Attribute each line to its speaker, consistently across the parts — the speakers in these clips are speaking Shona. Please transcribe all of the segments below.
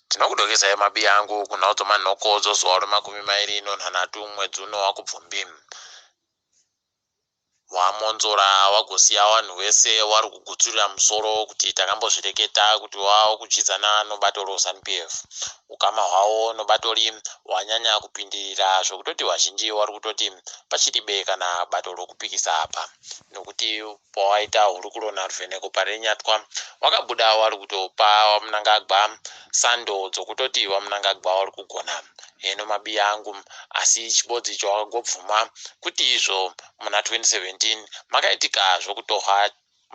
Speaker 1: Tinokudokesayi mabia angu kunhaudzo manhoko dzozuva remakumi mairi ino nhanhatu mwedzi uno wakubvumbi. Wamonzora wagosiya wanhu wese wari kugutsurira musoro kuti takambozvireketa kuti wawo kudyidzana nobato roZanu PF. Ukama hwawo nobatoli wanyanya kupindirira zvokutoti vazhinji wari kutoti pachiribe kana bato rokupikisa apa nokuti Pawaita hurukuro naRuvheneko paRenyatwa wakabuda wari kutopa waMunangagwa sando dzokutoti waMunangagwa wari kugona heno mabiya angu asi chibodzii chawakagobvuma kuti izvo muna 2017 makaitika zvokutohwa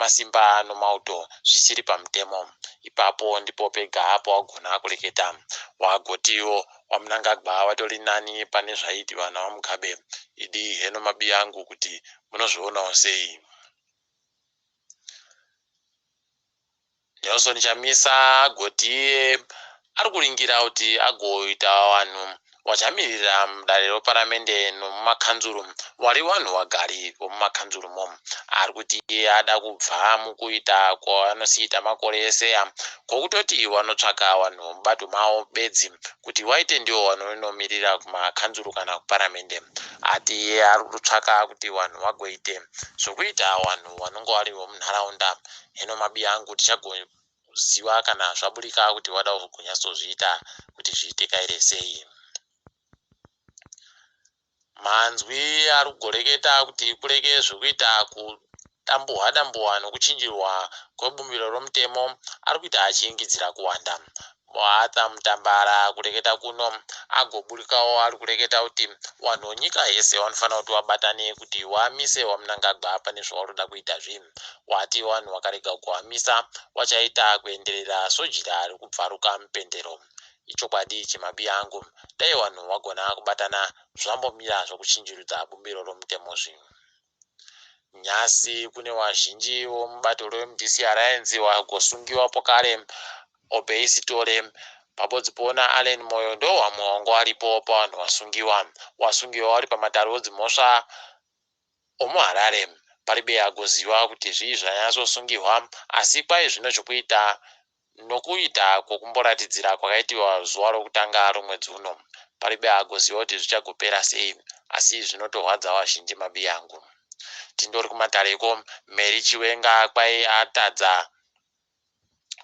Speaker 1: masimba nomauto zvisiri pamutemo. Ipapo ndipo pega pawagona kureketa. Wagotiwo waMunangagwa watori nani pane zvaiitiwa naVaMugabe. Idii heno mabiya angu kuti Munozvionawo sei imi? Nelson Chamisa agoti iye ari kuringira kuti agoita vanhu vachamirira mudare reparamende nomumakanzuru vari vanhu vagari vomumakanzurumo. Ari kuti iye ada kubva mukuita kwavanosiita makore eseya kwokutoti vanotsvaka vanhu mubato mavo bedzi Kuti waite ndiwo wanhu unomirira kumakanzuru kana kuparamende ati iye ari kutsvaka kuti wanhu wagoite zvokuita wanhu wanonga wari vomunharaunda hino mabiya angu tichagoziva kana zvaburika kuti wada ugonatsozviita kuti zviite kaire sei. Manzwi arikugoreketa kuti kurege zvekuita kudambuhwa dambuhwa nokuchinjirwa kwebumbiro romutemo arikuita achiingidzira kuwanda. Muarthur Mutambara kureketa kuno agoburikawo arikureketa kuti wanhu wenyika yese wanofanira kuti wabatane kuti wamise waMnangagwa pane zvawarikuda kuita zve wati wanhu wakarega kuwamisa wachaita kuenderera sojira rekubvaruka mupendero. Ichokwadi ichi mabby angu dai wanhu wagona kubatana zvambomira zvokuchinjirudza bumbiro romutemo zvi. Nhasi kune wazhinji womubato reMDC Alliance wagosungiwa pokare Obey Sithole, Babo Dzipowo naAllen Moyo ndohwamwe wango waripo pawanhu wasungiwa. Wasungiwa wari pamatare odzimhosva omuHarare paribe agoziwa kuti zvii zvanyatsosungihwa asi kwai zvino chokuita Nokuita kwokumboratidzira kwakaitiwa zuva rokutanga romwedzi uno, paribe agoziva kuti zvichagopera sei, asi zvinotorwadza vazhinji mabiyangu. Tindori kumatareko, Mary Chiwenga kwai atadza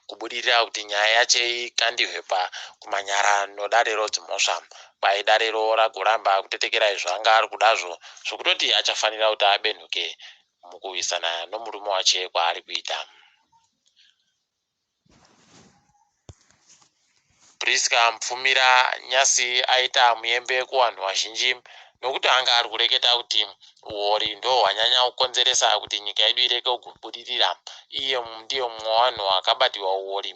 Speaker 1: kubudirira kuti nyaya yache ikandihwe pa kumanyara nodare rodzimhosva. Kwai dare ro ragoramba kutetekerai zvaanga ari kudazvo zvokutoti achafanira kuti abenhuke mukuwisana nomurume wache kwaari kuita. Prisca Mupfumira Nyasi aita muyembe kuvanhu vazhinji nokuti anga ari kureketa kuti huori ndihwo hwanyanya kukonzeresa kuti nyika yedu irege kugobudirira. Iye ndiye mumwe wevanhu vakabatirwa huori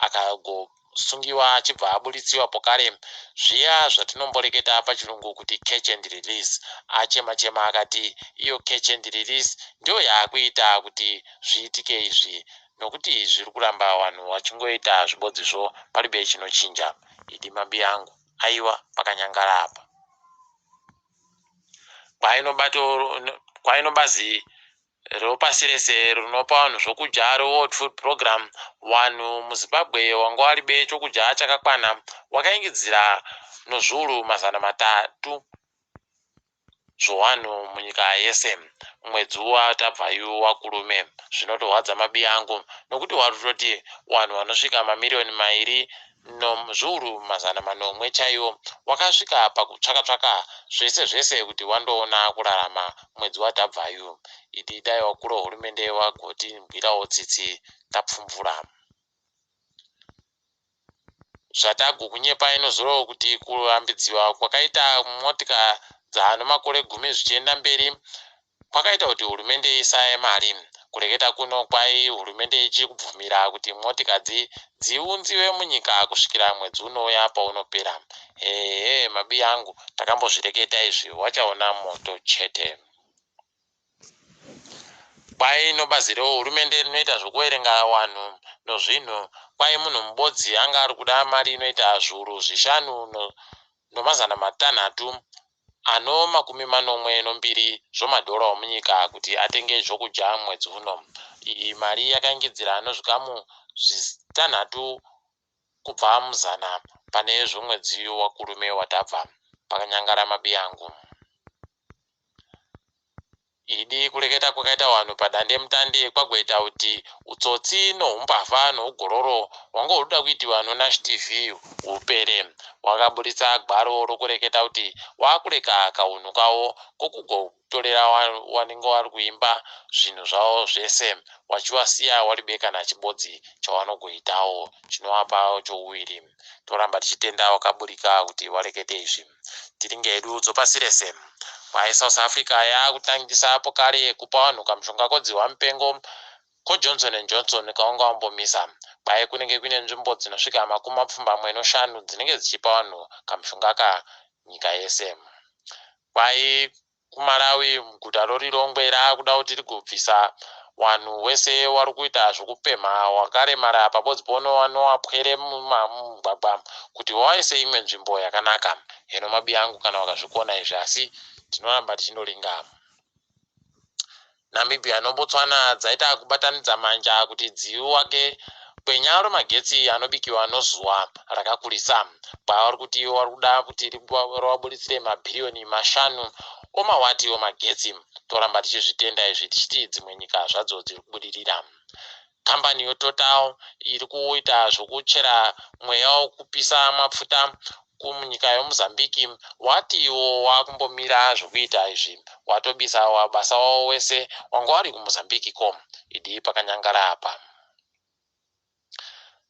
Speaker 1: akagobudirira. kusungiwa achibva aburitsiwa pokare zviya zvatinomboreketa pachirungu kuti catch and release. Achema chema akati iyo catch and release ndiyo yaakuita kuti zviitike izvi nokuti zviri kuramba vanhu vachingoita zvibodzi zvo paribe chinochinja. Idi mabiyangu aiwa pakanyangara apa. Kwainoba to kwainoba zii repasi rese rinopa vanhu zvokudya, reWorld Food Program, wanhu muZimbabwe wanga waribe chokudya chakakwana wakaingidzira nozviuru mazana matatu zvowanhu munyika yese. Mwedzi uwa tabva yu wakurume. Zvinotorwadza mabiyangu nokuti warutoti wanhu wanosvika mamiriyoni mairi nom zviuru mazana manomwe chaiwo wakasvika pakutsvaka tsvaka zvese zvese kuti wandoona kurarama mwedzi watabvayu idi dai wakuro hurumende wagoti bwirawo tsitsi tapfumvura zvatagu kunyepa inozorowo kuti kurambidziwa kwakaita motika dzaano makore gumi zvichienda mberi Kwakaita kuti hurumende isaye mari. Kureketa kuno kwai hurumende ichiri kubvumira kuti motika dzi dziunziwe munyika kusvikira mwedzi unouya paunopera. Ehe mabby angu takambozvireketa izvi wachaona moto chete. Kwai no bazi re hurumende rinoita zvekuverenga wanhu no zvinhu kwai munhu mubodzi anga ari kuda mari inoita zviuru zvishanu no no mazana matanhatu ano makumi manomwe nombiri zvomadhora omunyika kuti atenge zvokudya mwedzi uno. Iyi mari yakaingidzira ano zvikamu zvitanhatu kubva muzana pane zvomwedzi waKurume watabva, pakanyangara mabiyangu. Idi kureketa kwakaita wanhu padandemutande kwagoita kuti utsotsi nohumbavha nougororo hwanga huda kuitiwa noNash TV hupere. Wakaburitsa gwaro rokureketa kuti wakureka kahunhu kawo kokugotorera wanenge wari kuimba zvinhu zvawo zvese wachiwasiya wari be kana chibodzi chawanogoitawo chinowapawo chouviri. Toramba tichitenda wakaburika kuti warekete izvi. tiringe hedu udzo pasi rese Kwai South Africa yaakutangisa apo kare kupa vanhu kamushonga kodzihwa mupengo ko Johnson and Johnson kaunga wambomisa Kwai kunenge kuine nzvimbo dzinosvika makumi mapfumbamwe noshanu dzinenge dzichipa vanhu kamushonga aka nyika yese Kwai kuMalawi muguta roLilongwe raakuda kuti rigobvisa wanhu wese warikuita zvokupemha wakaremara pabodzbono wanoapwere mumagwagwa kuti wawaise imwe nzvimbo yakanaka heno mabiyangu kana wakazvikona izvi asi tinoramba tichindolinga Namibia noBotswana dzaita kubatanidza manja kuti dziuake kwenyaya rwemagetsi anobikiwa nozuva rakakurisa kwavari kuti ivo vari kuda kuti rivaburitsire mabhiriyoni mashanu omawati omagetsi. Toramba tichizvitenda izvi tichiti dzimwe nyika zvadzo dziri kubudirira. Kambani yeTotal iri kuita zvekuchera mweya wekupisa mapfuta munyika yeMozambique wati iwo wakumbomira zvekuita izvi watobisa wabasa wawo wese wanga wari kuMozambique ko idii pakanyangara apa.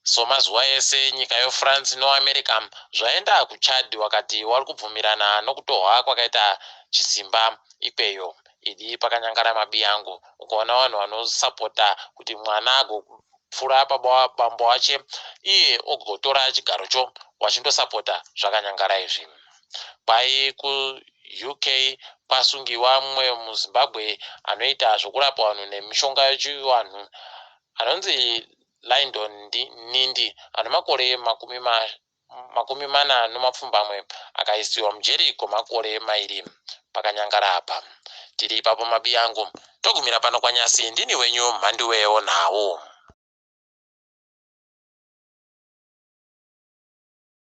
Speaker 1: So mazuva ese nyika yo France no America zvaenda ku Chad wakati wari kubvumirana nokutohwa kwakaita chisimba ikweyo idi pakanyangara mabi angu ukaona vanhu vano supporta kuti mwana ago pfura baba bambo wache iye ogotora chigaro cho wachindo supporta zvakanyangara izvi kwai ku UK kwasungiwa mumwe mu Zimbabwe anoita zvokurapa vanhu nemishonga yochivanhu anonzi Lyndon Nindi, ano makore makumi makumi mana nomapfumbamwe, akaisiwa mujeri kwemakore mairi. Pakanyangara apa. Tiri ipapo mabiyangu. Togumira pano kwaNyasi, ndini wenyu Mhanduweo Nhau.